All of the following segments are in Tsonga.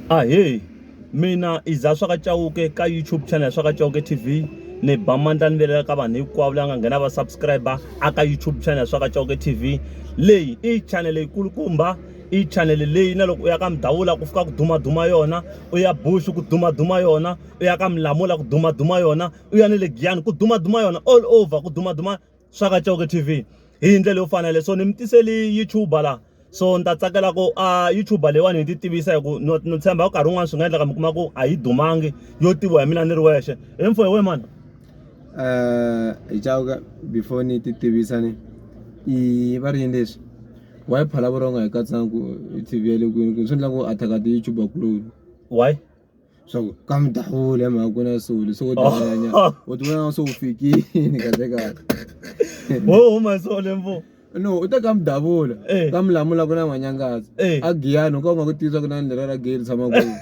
Ahee mina i Za swa ka Chauke ka YouTube channel swa ka Chauke TV ni ba mandla ni velela ka vanhu hinkwavo la nga nghena va subscriber a ka YouTube channel swa ka Chauke TV leyi i channel leyi kulukumba i channel leyi na loko u ya ka Mdavula ku fika ku duma duma yona u ya Bush ku duma duma yona u ya ka Mlamula ku duma duma yona u ya ni le Giyani ku duma duma yona all over ku duma duma swa ka Coke T_V hi ndlela yo fana leswo ni mi tisele YouTube la so ni ta tsakela ku a YouTube leyiwani hi ti tivisa hi ku no no tshemba nkarhi wun'wani swi nga endleka mi kuma ku a yi dumangi yo tiviwa hi mina ni ri wexe hi mfo hi we mani hi Chauke before ni ti tivisa ni i va ri yini leswi wa yi phala vurhonga hi katsaka ku T_V ya le kwini swi endla ku attack ti-YouTuber kuloni why. swa ku ka mi ta hula hi mhaka ku na soli so dlanyanya oh. u ti vona se u fikini kahle kahle wo oh, huma hi sole mbo no u te ka mi davula eh. ka mi lamula ku na n'wanyangazi eh. a giyani u ka u nga ku tisa ku na ni lera ra geri tshama kwini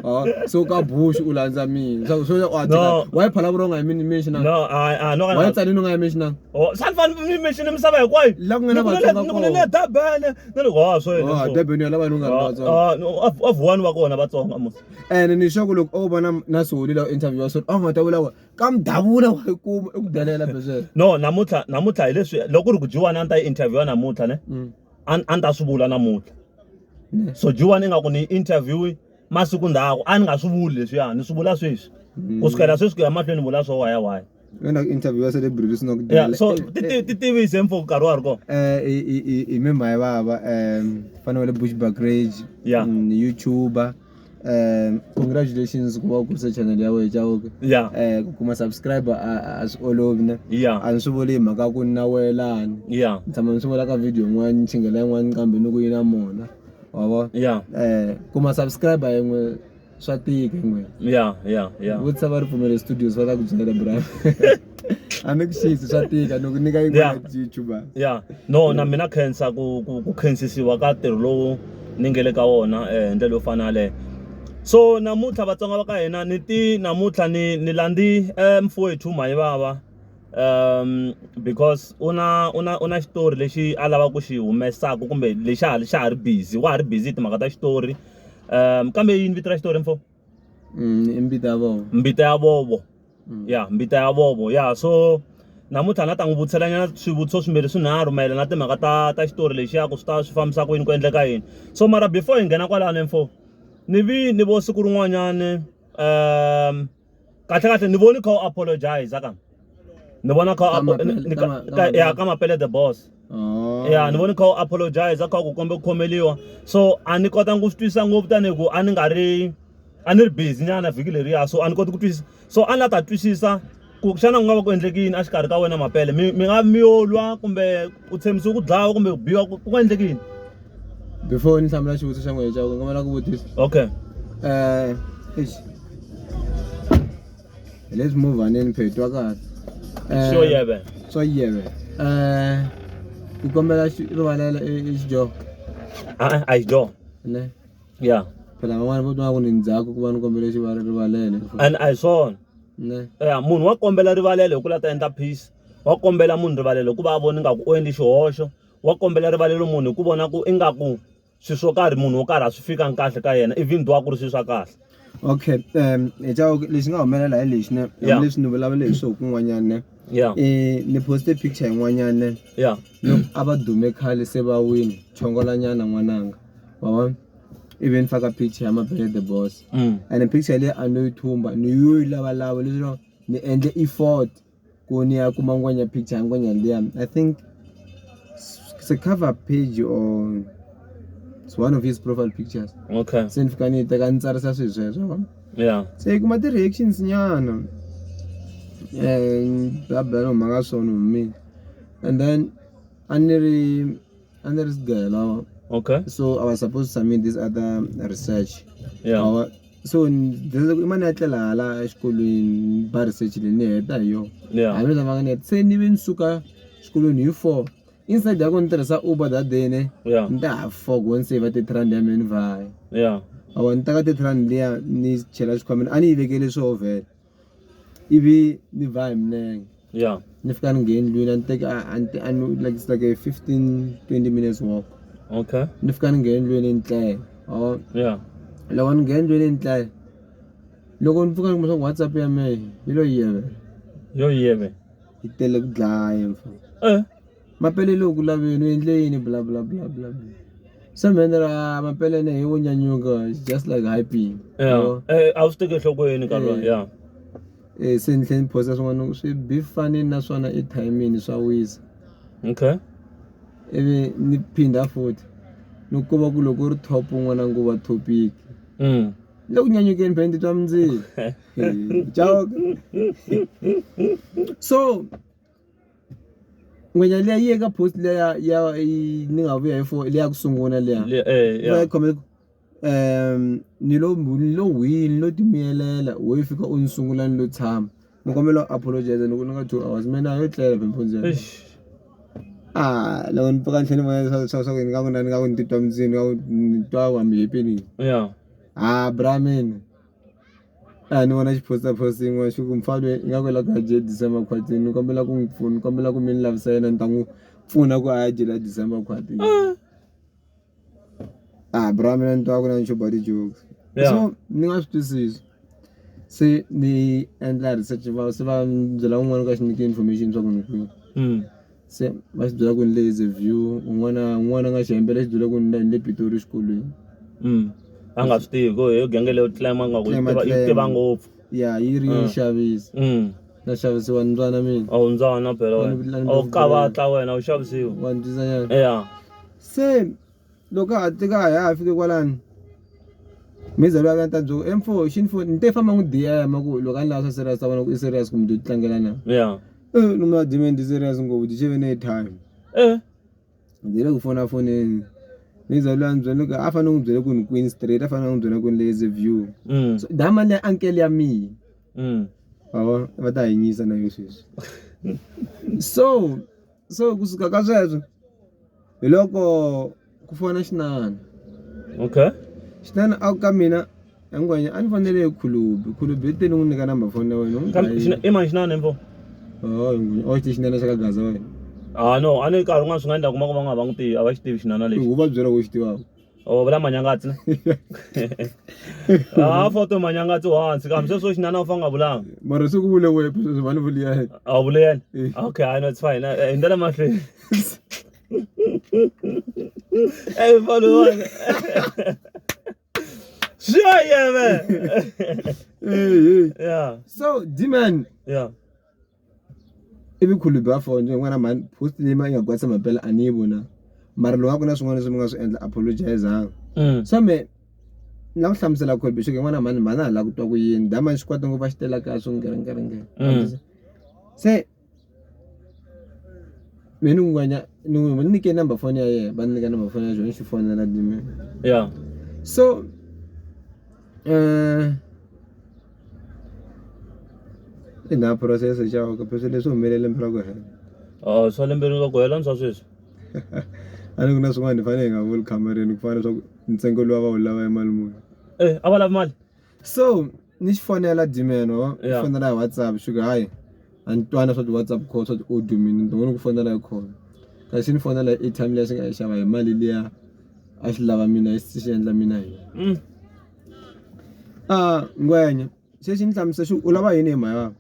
Ah, so ka bush u landza mina so so wa tika wa phala bro nga yimini mention no i i no wa tsani no nga yimini mention oh sanfani mi mention misava hinkwayo la ku nga na vatsonga kona ni ri wa swo yini Oh, so? Durban ya lava ni nga ri Ah, vatsongo. ah, no, a a vuwani va kona vatsongo a musa ene ni sure ku loko o vona na soli lawa interview wa soli a nga ta vula ku ka mudavula wa yi kuma i ku delela besweswo no namuntlha namuntlha hi leswi loko ku ri ku jiwani a ni ta yi interviewa namuntlha ne a ni- a ni ta swi vula namuntlha so jiwani ingaku ni yi interviewi masiku ndzhaku a ni nga swi vuli leswiya ni swi vula sweswi ku sukela sweswi ku ya mahlweni vula swo waya waya wena interview ya celebrity swi nga ku yeah, so eh, ti tivise mfo nkarhi wa ri kona eh, hi mimhayi vava um fana wa le bush bagrage yeah. Mm, youtuber um congratulations ku va u kurise channel ya wena jaoke yeah. um ku kuma subscriber a swi olovi ne yeah. a ni swi vuli hi mhaka ku ni na welani yeah. ni tshama ni swi vula ka video yin'wana ni chingela yin'wana kambe ni ku yi na mona wa vona ya eh kuma subscriber yin'we swa tika yin'we ya ya ya vutisa va ripfumelo studios va ta ku byela bra a ni ku xisi swa tika ni ku nyika yin'we Yeah. ya youtube ya no na mina khensa ku ku ku khensisiwa ka ntirho lowu ni nge le ka wona eh, hi ndlela yo fana yaleyo so namuntlha vatsonga va ka hina ni ti namuntlha ni ni landzi eh, mfowethu mayivava because u na u na u na xitori lexi a lavaka ku xi humesaka kumbe lexi a xa ha ri busy wa ha ri busy hi timhaka ta xitori kambe yini vito ra xitori mfo i mbita ya vovo mbita ya vovo ya mbita ya vovo ya so namuntlha na ta n'wi vutiselanyana swivutiso swimbirhi swinharhu mayelana na timhaka ta ta xitori lexiya ku swi ta swi fambisa ku yini ku endleka yini so mara before hi nghena kwalano mfo ni vi ni vo siku rin'wanyani . kahle kahle ni voni kha u apologize ka ni vona kha ya ka mapele the boss oh. ya ni voni kha u apologize kha ku kombe ku khomeliwa so a ni kotanga ku swi twisisa ngopfu tanihi ku a ni nga ri a ni ri busy nyana vhiki leriya so a ni koti ku twisisa so a ni la ta twisisa ku xana ku nga va ku endlekini a xikarhi ka wena mapele mi mi nga mi yo lwa kumbe u tshembisiwe ku dlawa kumbe ku biwa ku ku endleke yini before ni hlamula xivutiso xa n'wehe xa ku nga va na ku vutisa okay um eish hi le swimovaneni phetwa kahle Um, sure yeah man swa yeve um ni kombela xi- rivalela e- e xidyoho ah i do ne yeah phela van'wana vo twa ku ni ndzhaku ku va ni kombele xivala rivalele and i saw ne yeah munhu wa kombela rivalelo hi ku la ta endla peace wa kombela munhu rivalelo hikuva a vona ingaku u endle xihoxo wa kombela rivalelo munhu hi ku vona ku ingaku swilo swo karhi munhu wo karhi a swi fikangi kahle ka yena even though a ku ri swilo swa kahle okay um hi chava ku lexi nga humelela hi lexi ne hambileswi ni vulavule hi swoho kun'wanyana ne ya eh, ni poste picture yin'wanyana ne ya loko a va dume khale se va wini chongolanyana n'wananga wa vona ivi ni faka picture ya mabele the boss mm. and picture leyi a no yi thumba ni yo yi lavalava leswi ni endle effort Koni a kuma ngwenya picture ngwenya lia I think it's a cover page or it's one of his profile pictures okay se ni fika ni teka ni tsarisa swilo sweswo vona yeah se yi kuma ti-reactions nyana um eh, babela no mhaka swona hume and then a ni ri And there is girl. Our, okay. So I was supposed to submit this other research. Yeah. Our, so imani ya tlela hala exikolweni ba research leyi ni heta hi yona a ni lavanga ni heta se ni ve ni suka xikolweni hi four inside ya ko ni tirhisa uber that day ne ni ta ha four go ni save thirty rand ya mina ni vhaya awa ni teka thirty rand liya ni chela xikhwameni a ni yi vekele swo vhela ivi ni ba hi milenge ya ni fika ni ngheni ndlwini a ni teki a- a ni te- a ni like it's like a 15 20 minutes walk okay ni fika ni ngheni ndlwini ni tlela or ya loko ni ngheni ndlwini ni tlela loko ni pfuka ni kuma swa ku whatsapp ya mehe yi lo yivela yo yeve yi tele ku dlaya mfana eh Mapeleni u ku laveni u endle yini bla bla bla bla bla se mi endlela a mapeleni he wo nyanyuka it's just like hyping ya a wu swi teki enhlokweni nkarhi lowu ya e se ni tlhela ni phosa swin'wana swi bi fane na swona i timing swa wisa okay ivi ni phinda futhi ni ku va ku loko u ri top un'wana nguva topic le ku nyanyukeni phela ni titwa mundzilo so Ngwenya liya yi eka post leya ya ni nga vuya hi fo leya ku sungula leya va yi khome um ni lo ni lo wini ni lo timiyelela wo yi fika u ni sungula ni lo tshama ni kombela u apologize loko ni nga two hours me na ha yo tlela phela mpundzu yeleyo a loko ni pfuka ni tlhe ni vona leswaku swa swa ku ni nga ku na ni nga ku ni titwa ni nga ku ni twa hambi hi phinini ya ha bra mina. A ni vona xiposter post yin'wana xi ku mufana lweyi ingaku i la ku ya dya December khwatini ni kombela ku n'wi pfuna ni kombela ku mi ni lavisa yena ni ta n'wi pfuna ku a ya dyela December khwatini a bra mina ni twa ku na ni chuba ti-jokes so ni nga swi twisisi se ni endla research va se va ni byela un'wani u ka xi nyike information swa ku ni kwihi. se va swi byela ku ni le is a view un'wana un'wana a nga xi hembela xi byela ku ni ni le pitori exikolweni mm. a nga swi tivi ku hi genge leyo tlema nga ku yi tiva ngopfu ya yi ri yi mm. xavisa mm. na xavisiwa ni ndzwana mina a wu ndzwana phela wena a wu kavatla wena u xavisiwa wa ni twisanyana ya se loko a tika a ha ha fiki kwalano mi ze va ta byela ku mfo xi ni foni ni te famba n'wi DM ku loko a ni lava swa serious ta vona ku i serious kumbe to tlangela na ya eh ni ma DM ni serious ngopfu ti cheve ne time eh ndzi le ku fona fonini ni ze lwa ni byele ku a fanele n'wi byele ku ni kwini straight a fanele n'wi byela ku ni lazy view mm. so da mali ya uncle ya mina mm. va ta hanyisa na yo sweswi so So kusuka ka sweswo hi loko ku fona xinana. Okay. Xinana a ku ka mina a ni ngwenya a ni fonele hi khulubi khulubi i te ni n'wi nyika number phone ya wena n'wi Kambe xina- i mani xinana info oh ngwenya oh xi xinana xa ka gaza wena ah no a ni nkarhi un'wana swi nga endla kuma ku va nga va n'wi tivi a va xi tivi xinana lexi u va byela ku xi tivaka Oh, vula manyangatsi ha foto manyangatsi wa hansi kambe sweswo xinana u fa nga vulanga mara se ku vule wepe sweswi va ni vuli ya yena a wu vule yena eh. okay i know it's fine eh, eh, hi ndlela mahlweni eyi mfana wona sure yeah man yeah so d-man yeah I vukhulu bya for njhe ni vona mhani post leyi ma yi nga kwatisa mampela a ni yi vonangi mara loko a ku na swin'wana leswi mi nga swi endla apologise-zani so mehe ni lava ku hlamusela Colbert swa ku yin'wana mhani mhani a hi la ku twa ku yini dama ni swi kwata ngopfu a xi tele la kaya swo ngiringiringi se mehe ni n'wi ni n'wi ni nyike number foni ya yena va ni nyika number foni ya yena ni xi fonela ya so . I nga phurosese xawu kumbe swilo leswi humelele lembe ra ku hela a swa lembe ra ku hela ni swa sweswi a ni ku na swin'wana hi fanele hi nga vuli khamareni ku fana leswaku ntsengo lowu va wu lava i mali muni e a va lavi mali so ni xi fonela dimen wa fonela hi whatsapp xi ku hayi a ni twana swa ti-whatsapp call swa ti-audio mini ni ni ku fonela hi khona kasi ni fonela hi airtime leyi xi nga yi xava hi mali liya a swi lava mina xi endla mina hi yona mm. Ngwenya xexo ndzi hlamusela xo u lava yini mhani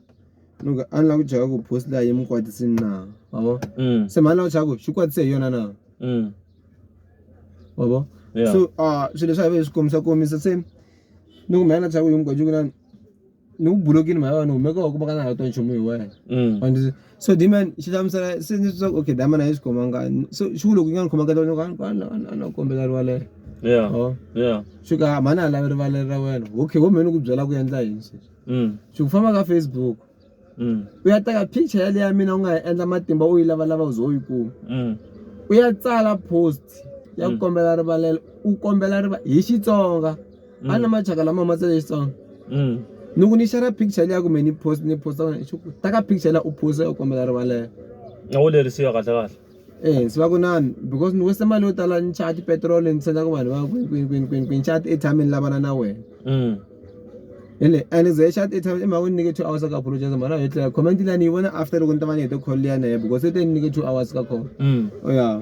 ni ku a ni lava ku chava ku post leyi mi kwatisa na ma vo se mhani lava chava ku xi kwatisa hi yona na ma vo so swilo leswi a hi swi kombisa komisa se ni ku mhani na chava ku yini ku na. ni ku bulokini mhaka vanhu humeka wa ku va ka na ha twa nchumu hi wena mm. and so diman xi hlamusela se ni swa okay diman a yi swi khomanga so xi ku loko yi nga ni khoma kahle loko a no kombela rivalelo yeah oh yeah swi ka ah, mhani a lavi rivalelo ra wena okay wo mhani ku byela ku endla yini sweswi mm. swi ku famba ka facebook mm. u ya teka picture yaleyo ya mina u nga yi endla matimba u yi lavalava u ze u yi kuma u ya tsala post ya ku kombela rivalelo u kombela riva hi xitsonga a na machaka lama matsa lexitsongo mm. loko ni xera picture liya kumbe ni post ni posta kona xi ku taka picture la u posta u kombela rivalelo a wu lerisiwa kahle kahle eh swi va ku nani because ni wese mali yo tala ni chaya tipetrol ni senda ku vanhu va kwini kwini kwini kwini kwini chaya ti-airtime ni lavana na wena mm. ele and ze chaya ti-airtime i mhaka ni nyike two hours ka apologize mhana yo tlela comment liya ni yi vona after loko ni ta va ni hete call liya na ye because se te ni nyike two hours ka call mm. oh, ya yeah.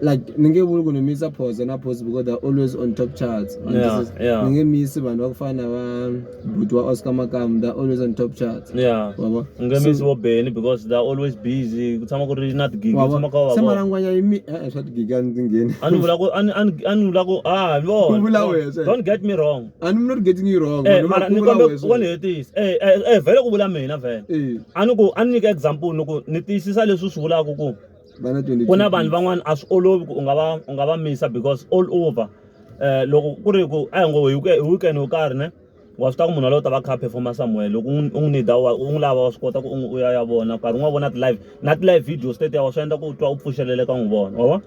like ni nge vuli ku ni misa phoza na phozi because they're always on top charts and yeah, this is, yeah. ni nge misi vanhu va ku fana na va buti wa oscar makamu they're always on top charts yeah. wava ni nge misi vo beni because they're always busy ku tshama ku ri na tigigi tshama ka vava malangwanya yi mi eh, eh swa tigigi a ndzi ngheni a ni vula ku a ni a ni vula ku ah vona vula wese don't get me wrong a ni not getting you wrong eh mara ni kombe ku ni hetisa eh, eh eh vele ku vula mina vele eh. a ni ku a ni nyika example ni ku ni tiyisisa leswi swi vulaka ku ku na vanhu van'wana a swi olovi ku u nga va u nga va misa because all over um loko ku ri ku a hi ngo hi weekend wo karhi ne wa swi tiva ku munhu waloye u ta va kha a performa somewhere loko u n'wi need wa u n'wi lava wa swi kota ku u u ya ya vona nkarhi wun'wana vona ti-live na ti-live video state wa swi endla ku u twa u pfuxeleleka n'wi vona wa vona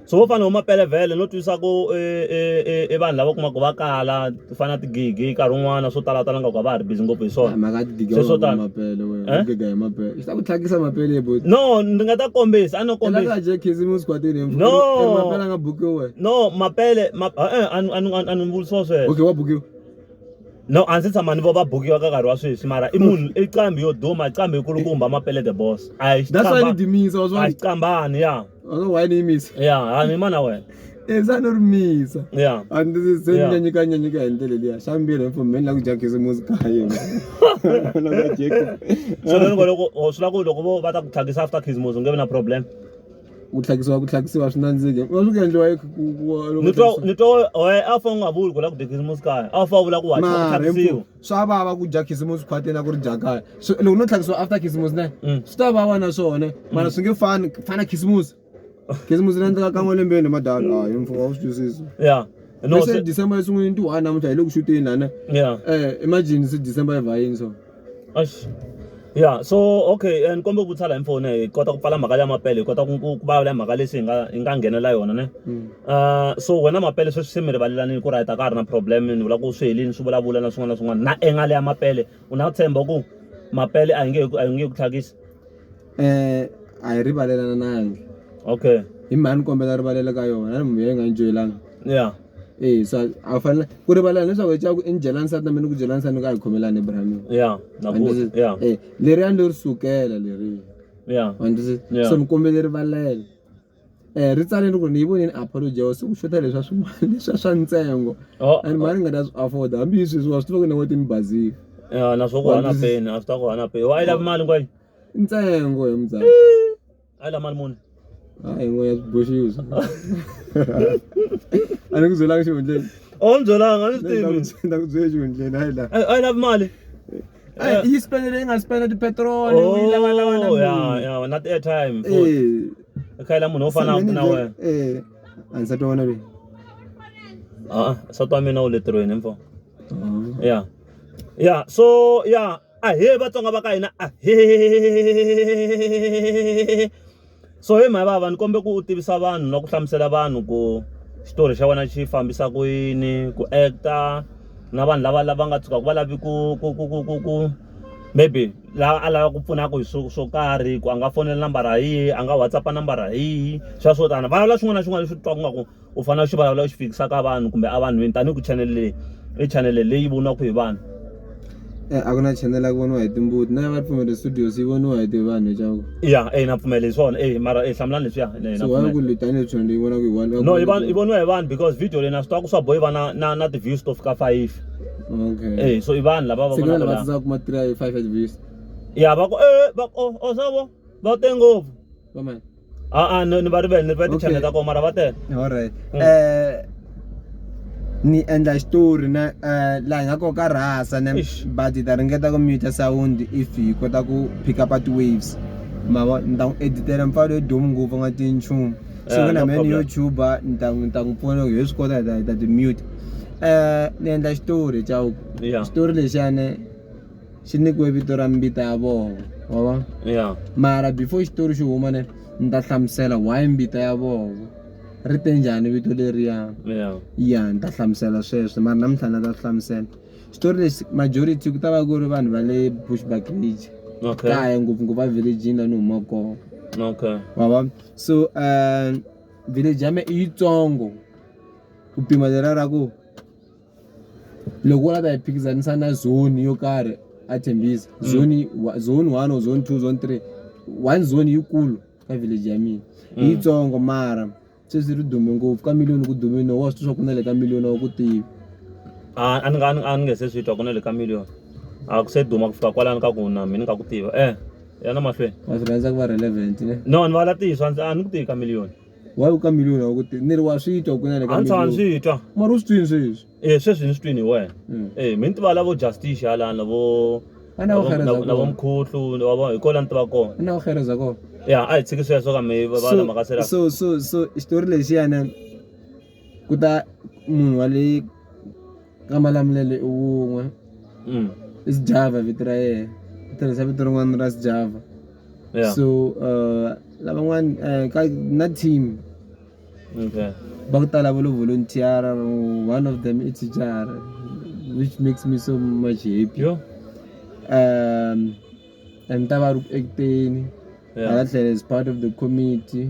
so vo fana vo Mapelavhele no twisisa ku i vanhu lava u kumaka va kala. to fana na ti-gigi nkarhi wun'wana swo talatala nga ku a va ha ri busy ngopfu hi swona mhaka ya ti-gigi Sweswo tani. mapele wena Eh? u giga hi mapele swi ta ku tlhakisa mapele bo no ndzi nga ta kombisa a no kombisa elaka je khisimusi kwatini hi No. mapele a nga bukiwi wena no mapele ma eh, a ni- a ni- a ni vutisiwa sweswo okay wa bukiwa no a ndzi tshama ni vo va bukiwa ka nkarhi wa sweswi mara i munhu i qambi yo duma qambi yikulukumba mapele the boss a hi that's why ni xiqamba- dimisa wa a hi swona xiqambani ya wa swa why ni yimisa ya ha ni mana wena eza no ri misa ya a ndzi zi se ni Yeah. nyanyika nyanyika hi ndlela liya xa mbirhi hi pfumeleni la ku dya khisimusi ka yena Na va dye khisimusi. so loko loko oh, swi la ku loko vo va ta ku tlhakisa after khisimusi u nge vi na problem ku tlhakisiwa ku tlhakisiwa swi nandzike wa swi ku endliwa hi- ku- ku- ku- loko ni twa tlhakisiwa- ni twa oe a fa u nga vuli ku la ku dya khisimusi kaya a fa u vula ku wa mara hi tlhakisiwa mfu- swa vava ku dya khisimusi khwateni a ku ri dya kaya Swi- loko no tlhakisiwa after khisimusi ne Mm. swi ta vava na swona mara swi nge fani fana khisimusi khisimusi ri endleka kan'we lembeni madalo a hi mfumo wa swi twisisa ya no se december esun'wini ti one namuntlha hi le ku xuteni lana ya eh imagine se december yi va yini so ash ya so okay and kombe ku tsala hi mfoni hi kota ku pfala mhaka ya mapele hi kota ku ku vulavula mhaka lexi hi nga hi nga nghenela yona ne mm. ah, so wena mapele sweswi se mi rivalelanile ku rayita ka ha ri na problem ni vula ku swi helini swi vulavula na swin'wana na swin'wana na engale ya mapele u na tshemba ku mapele a hi nge a hi nge ku tlhakisi um a hi rivalelananangi okay hi mhani ni kombela rivalele ka yona a ni munhu yi nga yi joyelanga ya e so a wu fanele ku rivalana leswaku hi caku i ni dyela nsati na mina ni ku dyela nsati ni ku a hi khomelani ebrahimini ya e leri a ni lo ri sukela leri ya andzi so ni kombele rivalele um ri tsale ni ku ni yi vonini apology ya siku xota leswi a swi mali leswi a swa ntsengo oh, and mali oh. ni nga ta swi afford hambi hi sweswi wa swi tiva ku na n'weti ni bazile ya na swo ku hana peni a swi ta ku hana peni wa yi lavi mali kwayi I ntsengo he mzala. Hayi la mali muni? Hayi n'wehe swi boxiwe swi. A ni ku byelanga xihundleni. A wu ni byelanga a ni swi tivi. Ni ta ku byela xihundleni hayi la. A yi lavi mali. A yi spend leyi nga spend ti-petrol u yi lava lava na mali. Ya ya na ti-airtime. Eh. I kha yi la munhu wo fana na wena. Eh. A nsati wa wena lweyi. A-a nsati wa mina u le ntirhweni mfo. Ya ya so ya. ahee vatsonga va ka hina ahee so he mhaya vava ni kombe ku u tivisa vanhu na ku hlamusela vanhu ku xitori xa wena xi fambisa ku yini ku acta na vanhu lava lava nga tshukaka va lavi ku ku ku ku ku ku maybe lava a lava ku pfunaka hi swo swo karhi ku a nga fonela nambara hi a nga whatsapp nambara hi swa swo tani va lava xin'wana na xin'wana lexi u twa ku nga ku u fanele u xi vulavula u xi fikisa ka vanhu kumbe a vanhwini tanihi ku channel leyi i channel leyi voniwaka hi vanhu Eh, a ku na channel ya ku voniwa hi timbuti na ya va ripfumelo studios yi voniwa hi tivanhu leswaku ya e na pfumela hi swona e mara e hlamulani leswiya e, na so why pfumela. ku li tanihi channel leyi vonaka hi vanhu no i vanhu i voniwa hi vanhu because video leyi na swi tiva ku swa bohi va na na na ti-views to fika five okay e so i vanhu lava va se ku na vonaka lava la tsandzaka kuma three five at views ya va ku e va ku, oh, oh savo va te ngopfu va mani a a ni ni va rivele ni rivele tichannel ta koho mara va tele alright um ni endla xitori na um laha hi nga koho ka rhasa ne but hi ta ringeta ku muta sound if hi kota ku pick up ti-waves ma vo ni ta n'wi editela mpfalo yo domu ngopfu a nga tivi nchumu so ku na me ni youtuba ni ta ni ta n'wi pfuna loko hi swi kota hi ta hi ta ti-muta um ni endla xitori chauke xitori lexiyani xi nyikiwe vito ra mbita ya vona wa va yeah. mara before xitori xi huma ne ni ta hlamusela why mbita ya vona ri te njhani vito leriya yeah. ya ni ta hlamusela sweswo mara namuntlha ni ta swi hlamusela xitori lexi majority ku ta va ku ri vanhu va le bushback ridge okay. kaya ngopfungopfu va villagini la ni huma kona okay. wava so um village ya me i yitsongo ku pima lera ra ku Loko u lava ku ta hi phikizanisa na zone yo karhi a Tembisa mm. zone zone one or zone two zone three one zone yikulu ka village ya mina mm. yitsongo mara sweswi ri dume ngopfu ka million ku dume no wa swi swa ku na le ka million wa ku tivi a ni nga a ni nge se swi twa ku na le ka million a ku se duma ku fika kwalani ka ku na mina ni nga ku tiva eh yana mahlweni wa swi rhandza ku va relevant ne no ni va la tiyiswa a ni ku tivi ka million Why u ka miliyoni wa ku ti ni ri wa swi twa ku na le ka miliyoni. A ni swi twa. Mara u swi twini sweswi? Eh sweswi ni swi twini hi wena. Hmm. Eh mi ni tiva lavo justice halana lavo Ana wo khereza kona. Lavo mkhuhlu wa vona hi kola ni tiva kona. Ana wo khereza kona. Ya a hi tshiki sweswo ka me va va lama ka sera. So so so xitori lexiyana ku ta munhu wa le ka Malamulele i wun'we i Sjava vito ra yena u tirhisa vito rin'wana ra Sjava so lavan'wana ka na team va ku tala va lo volunteer one of them i thicara which makes me so much happy yo and ta va ri ku act-eni hala tlhelo is part of the committee.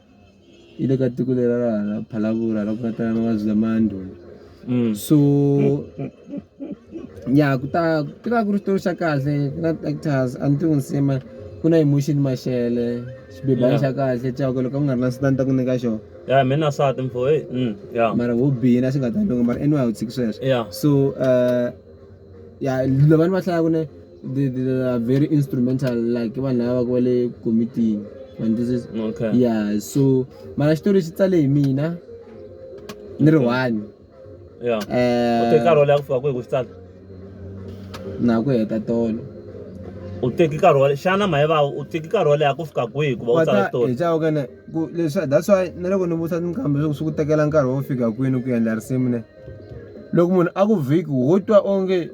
ile ka tiko leri ra ra phalavura ra ku nga tala mavabyi lama ya ndhuma mm. so ya ku ta ku ta ku ri xitori xa kahle ku na actors a ni tivi nsima ku na emotion maxele xibebana xa kahle caka loko ku nga ri na sitani ta ku nyika xona ya mi na sati mfo e ya mara wo bihina swi nga ta loko mara anyway a wu tshiki sweswo so um ya lava ni va hlayaka ne the the are very instrumental like vanhu lava va ku va le komitini mandisisi okay yeah so mara xitori xi tsale hi mina ni ri one yeah eh, u teke nkarhi wo leha ku fika kwihi ku xi tsala na ku heta tolo u teki nkarhi wo xana mayevawu u teki nkarhi wo leha ku fika kwihi ku va u tsala xitori hi chavo kana ku leswi that's why na loko ni vutisa tinkambe leswaku swi ku tekela nkarhi wo fika kwini ku endla risimu ne loko munhu a ku vhiki wo twa onge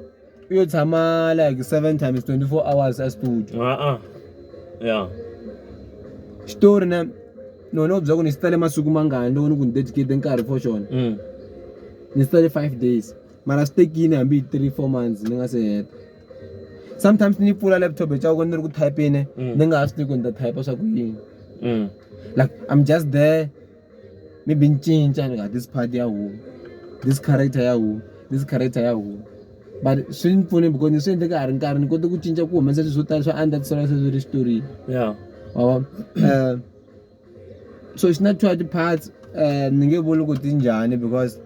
u yo tshama like seven times twenty four hours a studio a-a ya xitori na ni wena u byela ku ni xi tsale masiku mangani loko ni ku ni dedicate nkarhi for xona mm. ni xi tsale five days mara swi tekile hambi hi three four months ni nga se heta sometimes ni pfula laptop hi caka ni ri ku typene mm. ni nga ha swi tivi ku ni ta type swa ku yini mm. like i'm just there maybe ni cinca ni nga this part ya huma this character ya huma this character ya huma but swi ni pfune because ni swi endle ka ha ri nkarhi ni kote ku cinca ku humesa swilo swo tala swa andza ti sala sweswi ri xitori ya wa vona um so xi na two ya ti-parts um ni nge vuli ku ti njhani because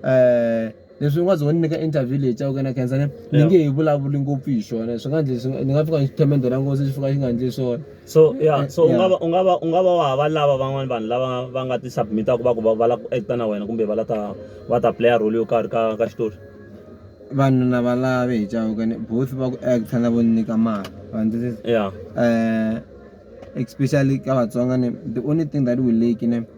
um Leswi n'wazi wo ni nyika interview leyi Chauke na khensa ni ni nge hi vulavuli ngopfu hi xona swi nga ndleli ni nga fika ni xithemende ra ngozi xi fika xi nga ndli swona so ya eh, so u nga va u nga va u nga va wa hava lava van'wana vanhu lava va nga ti submit-aku va ku va va lava ku acta na wena kumbe va la ta va ta playa role yo karhi ka ka xitori vanhu na va lave hi Chauke ni both va ku acta na vo ni nyika mali wa ndzi ya um especially ka Vatsonga ni the only thing that we lack ni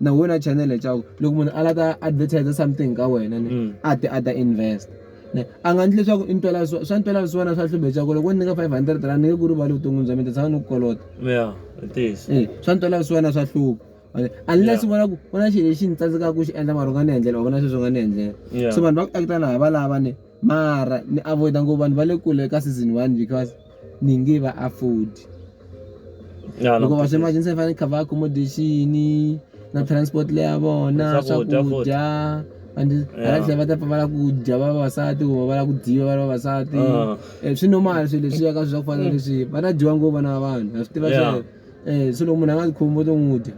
na wena chanele leswaku loko munhu a la ta advertiser something ka wena ni mm. a ti a ta invest ne a nga ndli leswaku i ntwela swa swa ntwela swa wena swa hlube leswaku loko ni nyika 500 rand ni nge ku rivali vuton'wini bya mina ta tshama ni ku kolota ya ntiyiso eh swa ntwela swa wena swa hluba unless vona ku ku na xilo lexi ni tsandzekaka ku xi endla mara u nga ni endlela u vona sweswi u nga ni endlela so vanhu va ku act-a na hi valava ni mara ni avoid-a ngopfu vanhu va le kule ka season one because ni nge va afford loko va swi emergency va fanele cover accommodation na transport leya vona swakudya and hala eh. tlhela va ta pfa va lava ku dya va vavasati kumbe va lava ku dyiwa va ri vavasati ah. eh, swi normal swilo leswiya ka swi swa ku fana leswi mm. va ta dyiwa ngopfu vana va vanhu ha swi tiva swe um eh, se loko munhu a nga ti khomi vo to n'wi dya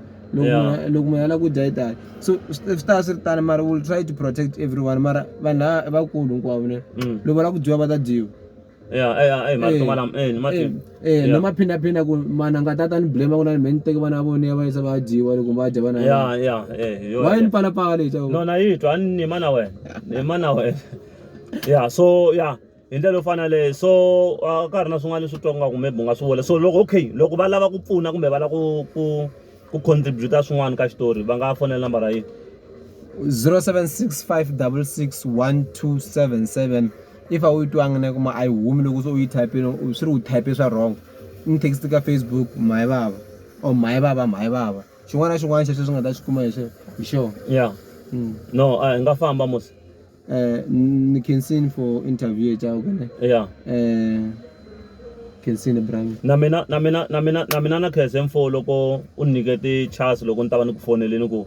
loko munhu a lava ku dya yi tani so swi ta swi ri tani mara will try to protect everyone mara vanhu lava vakulu hinkwavo ne mm. loko va lava ku dyiwa va ta dyiwa ya ya eyi mali to kwala eyi mati Eh, eh, Yeah. na maphindaphina ku mana nga tata ni blame ku na ni me ni teke vana va vona ya va yisa va ya dyiwa loko va dya vana ya vona. ya ya eh yo wa yini palapala leyi xawu no na yi twa ni nima na wena nima na wena ya so ya hi ndlela yo fana leyi so a ka ha ri na swin'wana leswi twa ngaku maybe u nga swi vula so loko okay loko va lava ku pfuna kumbe va lava ku ku ku contribute-a swin'wana ka xitori va nga fonela nambara yini 0765 66 1277 if a wu yi twanga na yi kuma a yi humi loko se u yi type-ini u swi ri u type swa wrong ni text ka Facebook mhani vava or mhani vava mhani vava xin'wana na xin'wana xa sweswi u nga ta xi kuma hi sweswo hi xona ya no a hi nga famba mos eh ni khensini for interview ya ku ne ya eh khensini brami na mina na mina na mina na mina na khense mfo loko u ni nyike ti-chance loko ni ta va ni ku foneleni ku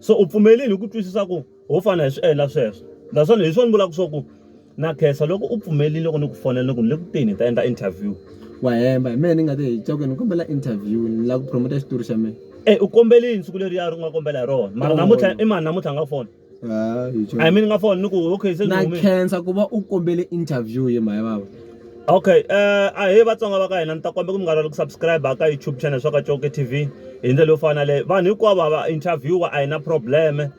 so u pfumelini hi ku twisisa ku ho fana hi swi endla sweswo naswona hi swona ni vulaka swa ku na khensa loko u pfumelini loko ni ku fonela ni ku ni le ku teni hi ta endla interview wa hemba hi mehe ni nga te hi cakwe ni kombela interview ni lava ku promota xitori xa mina e u kombelini siku leri ya ri nga kombela hi rona mara namuntlha i mani namuntlha nga fona a hi mi ni nga fona ni ku okay se na khensa ku va u kombele interview hi mhaya vava Okay ahee vatsonga va ka hina ni ta kombela ku mi nga rivali ku subscribe ka YouTube channel swa ka Coke TV hi ndlela yo fana leyi vanhu hinkwavo va interview a hi na problem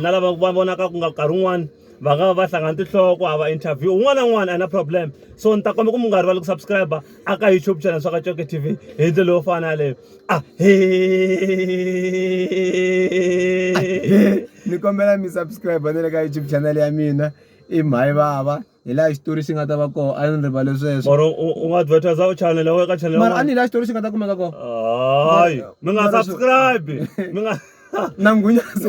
na lava va vonaka ku nga nkarhi wun'wani va nga va va hlangana tinhloko a va interview un'wana na un'wana a hi na problem so ni ta kombela ku mi nga rivali ku subscribe a ka YouTube channel swa ka Coke TV hi ndlela yo fana leyi a he ni kombela mi subscribe na le ka YouTube channel ya mina i mhayi vava hi laha xitori xi nga ta va kona a ni rivale sweswo mara u nga advertise u channel u ka channel mara a ni hi laha xitori xi nga ta kumeka kona hayi mi nga subscribe mi nga na nghunyana